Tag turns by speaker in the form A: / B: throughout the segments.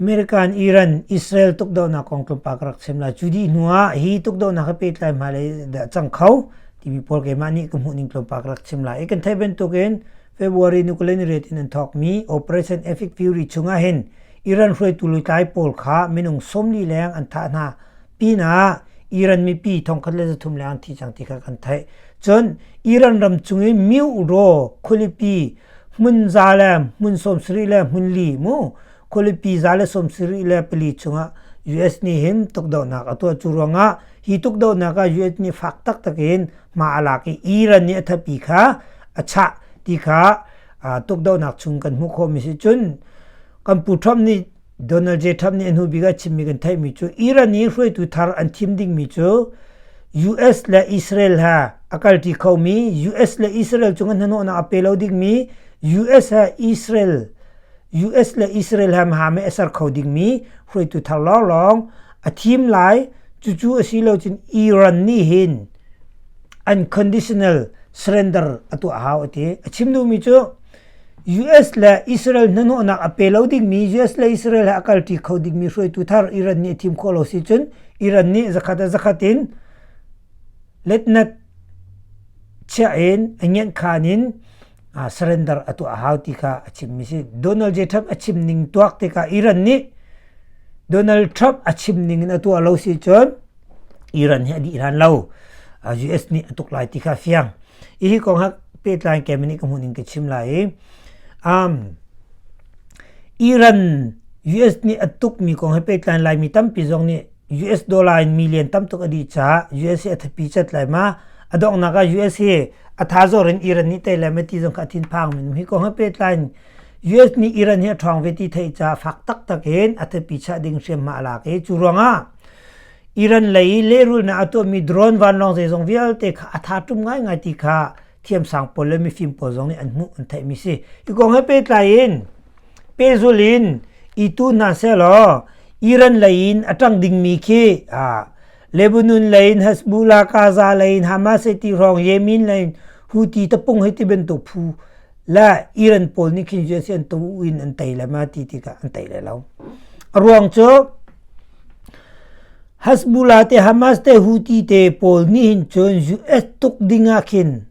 A: American Iran Israel tukdohnak kong tlawmpal ka rak chim lai. Cu dih hnu ah hi tukdohnak he pehtlai hmailei dah a cang kho timi pawl keimah nih ka hmuhning tlawmpal ka rak chim lai. Hi kan theih bantukin February nuklear ni ret in an thawkmi Operation Epic Fury chungah hin Iran hruaitu lutlai pawl kha minung sawmli leng an thah hna pinah Iran mipi thongkhat le zathum leng an thi cang ti kha kan theih. Cun Iran ram cung i Myoraw khualipi hmun za le hmun sawmsarih le hmun li mu khualipi za le sawmsarih le pali chungah US nih hin tukdohnak a tuah cu ruangah hi tukdohnak ah US nih fak taktak in ma a lak i Iran nih a thatpi kha a chah ti kha tukdohnak chung kan hmuh khawhmi si cun kan pu Trump nih Donald J. Trump nih a hnubik ah chimmi kan theihmi cu Iran i hruaitu thar an thim dingmi cu US le Israel ha a kalṭi khomi US le Israel cung an hnahnawhnak a pe lo dingmi US ha Israel US le Israel ha ha me a ser kho dingmi hruaitu thar lawnglawng a thim lai cucu a si lo cun Iran nih hin unconditional surrender a tuah hau a ti a chim duhmi cu US le Israel hnahnawhnak a pe lo dingmi US le Israel he a kalṭi kho dingmi hruaitu thar Iran nih a thim khawh lo si cun Iran nih zakhat a zakhat in letnak chiah in a ngiankhan in surrender a tuah a hau ti kha a chimmi si Donald J Trump a chim ning tuak tikah Iran nih Donald Trump a chim ning in a tuah lo si cun Iran hi a dih hlan lo US nih a tuk lai ti kha fiang hi kong ha pehtlai ke mani ka hmuh ning ka chim lai i um, Iran US nih a tuk mi kong he pehtlai lai mi tampi zong nih US dollar in million tam tuk a dih caah US hi a thapi cat lai ma a donghnak ah US hi a tha zor in Iran nih tei lai ma ti zong kha a thin phang mi hi kong he pehtlai US nih Iran hi a ṭhawng ve ti thei caah fak taktak in a thapi chah ding hriam ma a lak i cu ruangah Iran lei i lehrulnak a tuahmi drone vanlawng zeizong vialte kha a tha ṭum ngaingai ti kha thiamsang pawl le mifim pawl zong nih an hmuh an theihmi si. Hi kong he pehtlai in pehzul in i tu hna sehlaw Iran lei in a ṭang dingmi khi Lebanon lei in Hezbollah, Gaza lei in Hamas he ti hrawng Yemen lei in Houthi tapung hei ti bantuk phu le Iran pawl nih khin USA an tu in an tei le ma ti tikah an tei le lo a ruang cu Hezbollah te Hamas te Houthi te pawl nih hin cun US tuk dingah khin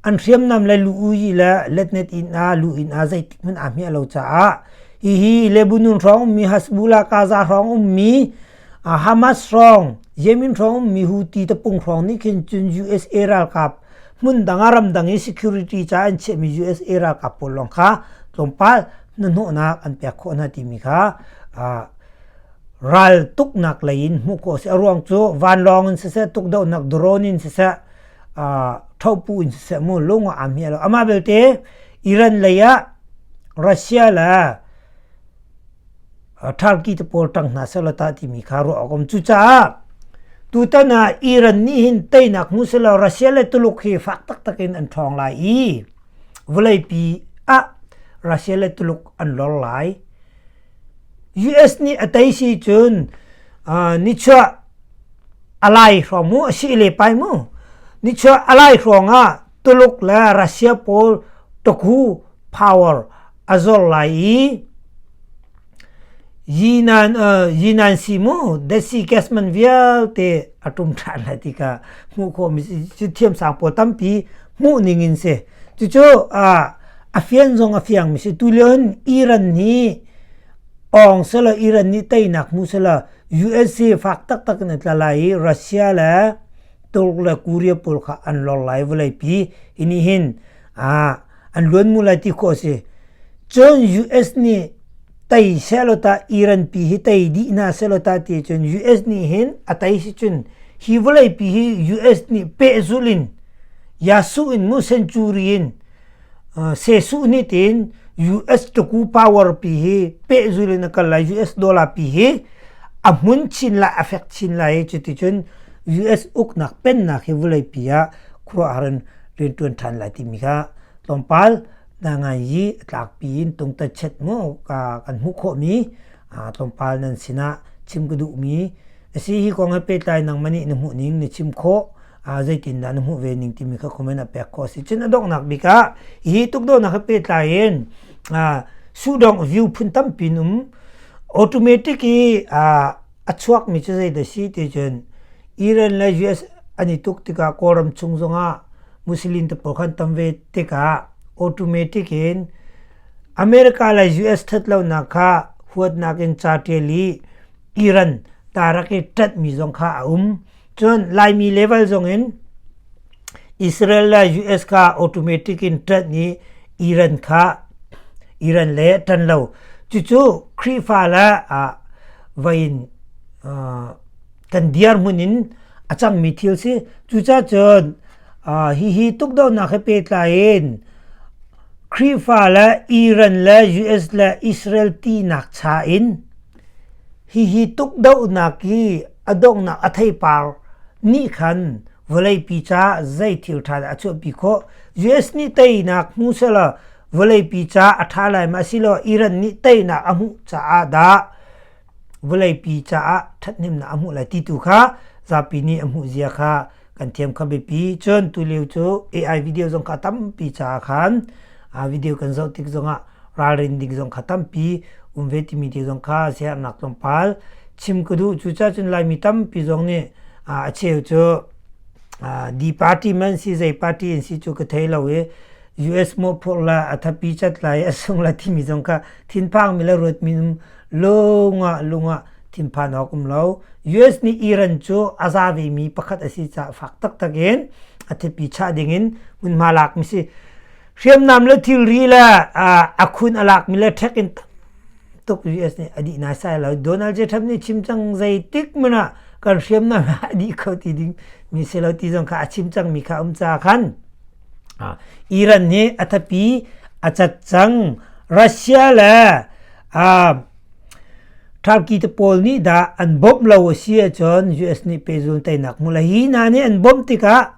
A: an hriamnam le lu i le letnet in a lu in a zeitik hmun a hmia lo caah hihi Lebanon hrawng ummi Hezbollah Gaza hrawng ummi Hamas hrawng Yemen hrawng mi Houthi tapung hrawng nih khin cun USA ralkap hmundang ah ramdang i security ca an chiahmi USA ralkap pawl lawng kha tlawmpal hnahnawhnak an pek khawh hna timi kha ral tuknak lei in hmuh khawh a si a ruang cu vanlawng in siseh tukdohnak drone in siseh thopu in siseh mu lung a am hi lo amah belte Iran lei ah Russia le Turkey te pawl tang hna selaw ta timi kha ruah awkom cucaah tutan ah Iran nih hin teinak hmu selaw Russia le Tuluk hi fak taktak in an ṭhawng lai i vawleipi ah Russia le Tuluk an lor lai US nih a tei si cun nichuah a lai hrawng mu a si le pai mu nichuah a lai hrawng ah Tuluk le Russia pawl tukhu power a zor lai i yinan uh, yinan si mu desi gasman vialte a tum than lai tika hmuh kho mi cu thiam sang po tampi hmuh ning in se cucu a a fian zong a fiang mi si tu leon Iran ni ong sala Iran ni teinak mu sala USA fak tak tak na tla lai i Russia le Turk le Korea pawl kha an lor lai vawleipi i nih hin ah an luan mu lai ti khawh a si cun US nih tei sehlaw tah Iran pi hi tei dih hna sehlaw tah ti cun US nih hin a tei si cun hi vawleipi hi US nih pehzulh in Yasuh in mu century in Jesuh nih tiin US tuku power pi hi pehzul in a kal lai US dollar pi hi a hmun chin lai a fek chin lai i cuti cun US uknak pennak hi vulei pi ah khuaruahhar in rianṭuan ṭhan lai timi kha tlawmpal na ngan i a tlakpi in tung tatchet mu ka kan hmuh khawhmi tlawmpal nan sinah chim ka duhmi asi hi kong he pehtlai nang mani na hmuh ning na chim khawh zeitindah na hmuh ve ning timi kha comment a pek khawh si cun a donghnak bik ah hi tukdohnak he pehtlai in sudong view phun tampi um automatic i a chuak mi cu zei da si ti cun Iran le US an i tuk tikah kawlram chung zongah Muslim te pawl khan tam ve tikah automatic in America lei US ṭhatlonak kha huatnak in ca ṭial i Iran tarak i ṭanhmi zong kha a um. Cun Laimi level zongin Israel le US kha automatic in ṭanh i Iran kha Iran le ṭan lo. Cucu Khrihfa le ah vai in uh, kan dirhmun in a cangmi thil si. Cucacun uh, hihi tukdohnak he pehtlai in Khrihfa le Iran le US le Israel tinak cha in hihi tukdohnak i a donghnak a theipar nih khan vawleipi caah zei thil ṭha dah a chuahpi khawh? US nih teinak hmu selaw vawleipi caah a ṭha lai ma asiloah Iran nih teinak a hmuh caah dah vawleipi caah ṭhathnemnak a hmuh lai ti tu kha zapi nih a hmuhzia kha kan thiam kha biapi cun tulio cu AI video zong kha tampi caah khan video kan zoh tik zongah ralrin ding zong kha tampi um ve timi te zong kha siarnak tlawmpal chim ka duh cu ca cun laimi tampi zong nih a cheu cu di party man si zei party in si cu ka thei lo i US mawhphurh la a thapi cat la i a sung la timi zong kha thinphang mi le ruat minum lungah lungah thinphan awk um lo US nih Iran cu a za ve mi pakhat a si caah fak taktak in a thipi chah ding in hmunhma lak mi si hriamnam le thilri le a khun a lak mi le ṭhek in tuk US nih a dih nai sai lo Donald J Trump nih chim cang zeitik man ah kan hriamnam a dih kho ti ding mi si lo ti zong kha a chim cang mi kha um ca khan Iran nih a thapi a cat cang Russia le Turkey te pawl nih dah an bawmh lo a si ahcun US nih pehzul teinak hmu la hi hna nih an bawmh tikah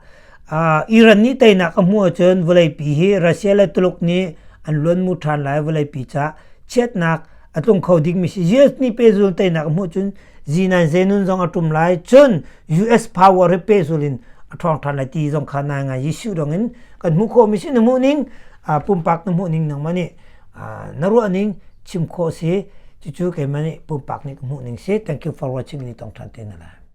A: Iran nih teinak a hmuh ahcun vawleipi hi Russia le Tuluk nih an luan mu ṭhan lai vawleipi ca chiatnak a tlung kho dingmi si US ni pe zul teinak hmuh cun Z9 zenun zong a tum lai cun US power re pe zulin a thong than lai ti zong kha nai ngai Jesu dong in kan hmu kho mi si na hmuh ning pumpak na hmuh ning nang mani na ruah ning chim kho si cucu ke mani pumpak ni ka hmuh ning si thank you for watching ni tong than te na la